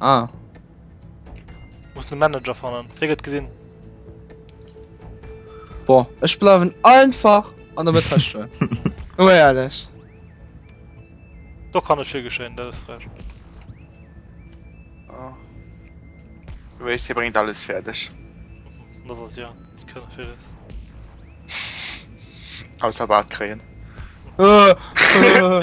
Ah. Muss den Manager fannen. Wéi gëtt gesinn? Boah, ech bleiwen einfach an der Mëtterstuhl. Oh ehrlich. Da kann net vill geschéien, dat ass recht. Oh. Du wees, hie bréngt alles fäerdeg. Das ass ja, die können vieles. Ausser Bart kréien. Äh, äh.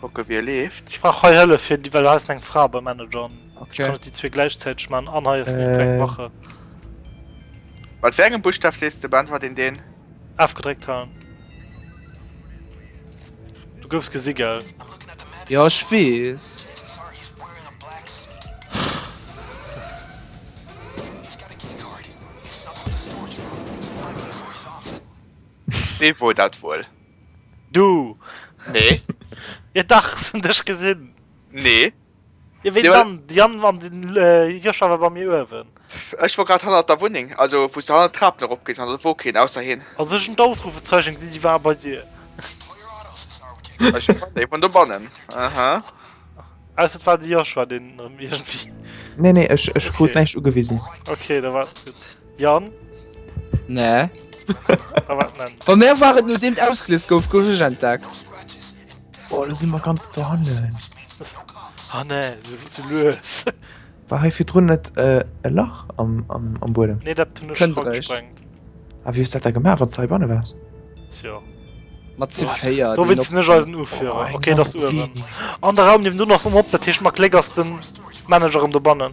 Kucke wie leeft. Ich brauch hei Hëllef fir déi well hei ass eng Fra beim Manager. Okay. Kann déi zwee gläichzäiteg man an hei ass net eng Wache. Mat wéi engem Buschtaf sees de beantwert een deen? F gedréckt halen. Du goufs gesi gell? Jo ech weess. Wee wor dat wuel? Du! Nee. Jo dachs, hun dech gesin. Nee. Jo ween dann? De Jan an den Joscha war bei mir uewen. Ech wor grad hannert der Wunneng, also wous de hannert Trapen erop gees, an do wor keen ausser hien. Also ech hun d'Ausrufezeichen gesin, déi war bei dir. Ech war néierens dobannen, aha. Ausser et war de Joscha deen erem iergendwéi. Nee nee, ech krut näischt ugewisen. Ok, da war alles gutt. Jan? Nee. Wa mär waren no deem ausgelies gouf gouf ech entdeckt. Oh da si mer ganz do hannen. Ah ne, ze lues. War hei virdrun net e Lach am am Buedem? Nee dat hunn ech elo gesprengt. A wéi hues dat da gemaach wann s de hei banne waars? Tjo. Mat C4. Do wéinst den ech eisen ufire. Ok dat ass uewen. An de Raum niewendun ass en op, dat heescht mat Gléck ass de Manager erëm dobannen.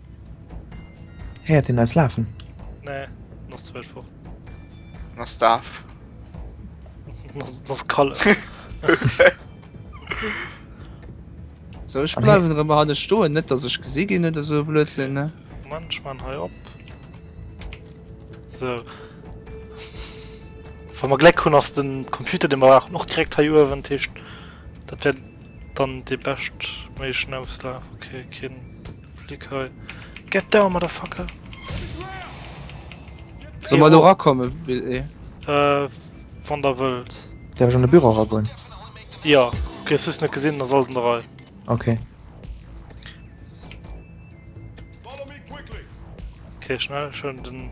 Héiert een eis lafen? Nee, en ass ze wäit fort. En ass daf. En ass kal. So, ech bleiwen erëm hannert stoen, net datt ech gesi ginn oder esou e Blödsinn, ne? Moment, ech man hei op. So. Wa mer Gléck hunn, ass de Computer, dee mer brauchen, och direkt hei uewen. Dat heescht, dat wär dann dee beschtméiglechen Auslaf. Okay, keen. Flick hei. Get down motherfucker! Solle mer elo erakomme Bill E? Wann der wëllt. Däerf ech an de Büro eragoen? Jo, du kriss just net gesinn, ass alles an der Rei. Ok. Ok schnell, ech hunn den.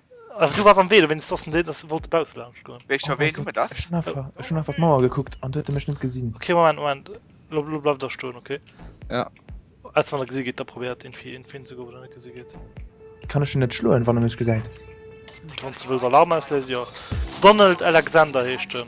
Awer du wars am Wee, dowéinst ass en deen, dass e wollt dobausse laanscht goen. Wéi ech Oh mäi erwähnt hun, Gott, et ass. ech hun einfach, ech hun einfach d'Mauer gekuckt an du huet e mech net gesinn. Ok, Moment, Moment, lo lo bleift der stoen, ok? Ja. Ausser wann der gesi gitt, da probéiert infir infir hin ze goen, wou der net gesi gitt. Kann ech en net schloen, wann e mech gesäit? Wanns du wëlls Alarm ausléisen, jo. Donald Alexander heescht en.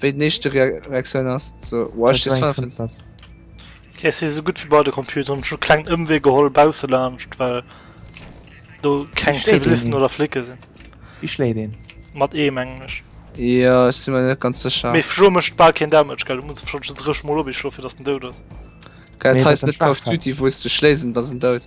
Wéi d'nächste Reaktioun ass. So, wow, ich das Fenster. Okay, sie so gut wie bei de Computer und schon klengen Ëmwee geholl bausse lacht, well do keng Zivilisten oder Flicke sinn. Wie schléi den? Mat eem englech. Ja si man net ganz zecher. Mee Flo mecht bal keen Damage gell, muss schon drech Mol op ich schlo fir dass den doud ass. Gell, nee, net Call of Duty wost du schléisen, dat en doud.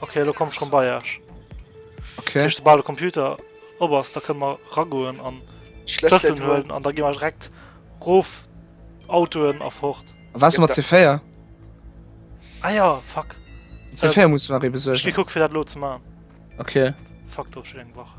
Okay, lo komm schon bei Asch. Okay. Ich sobal der Computer ober ass, da können wir ragoen an Schlüsseln holen an da gehen wir direkt ruf Autoen a fort. Was mat C4? Ah ja, fuck. C4 äh, muss war besorgen. Ich guck für dat lo zu machen. Okay. Fuck, du hast schon Wache.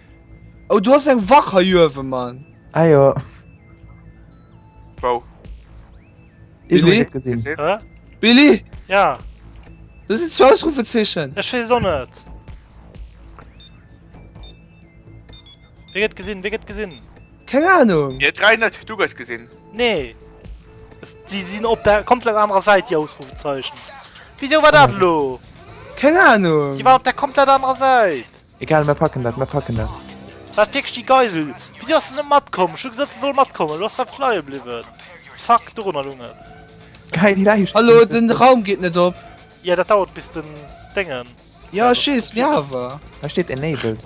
Oh du ass eng Wach hei uewe man. Ah jo. Wou? Ech hun et gesin. Hä? Billy? Ja. Do sinn zwou Ausrufezeechen. Ech weess et och net. Wien huet gesinn? Wien huet gesinn? Keng Ahnung. Mir dräi net, du hues gesinn. Nee. Déi sinn op der komplett anerer Säit, déi Ausrufezeichen. Wisou war dat elo? Keng Ahnung. Déi waren op der komplett anerer Säit. Egal, mer packen dat, mer packen dat. Wat wierklech déi Geisel? Wisou ass se net matkomm? Ech hu gesot se soll matkommen, elo ass dat fleie bliwwen. Fuck, dorunner lung et. Geil, déi Läich. Hallo, den Raum geet net op. Jo, dat dauert bis den Déngen. Jo, ech weess, mee awer. Hei steet enabled.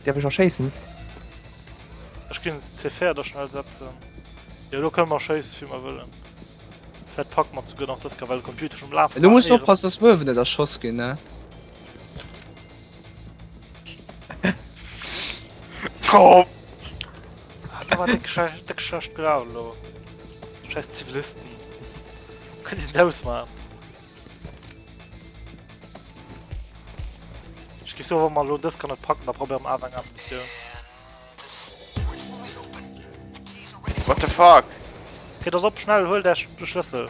Däerf ech erschéissen? Ech ginn d'Cfr da schnell setzen. Jo, elo kënne mer erschéisse wien mer wëllen. Vläit packe mer zu Gëtt nach dës Kar, well de Computer schon um Lafen ass. Du muss oppassen, dass d'Möwen net erschoss ginn, ne? Oh. Deckcht grau lo Scheiß Zivilisten Kö aus mal Ich gi so mal lo das kann net packen da prob am Anfang ab Mission What the fuck? Geht das op schnell hol der Schlüssel.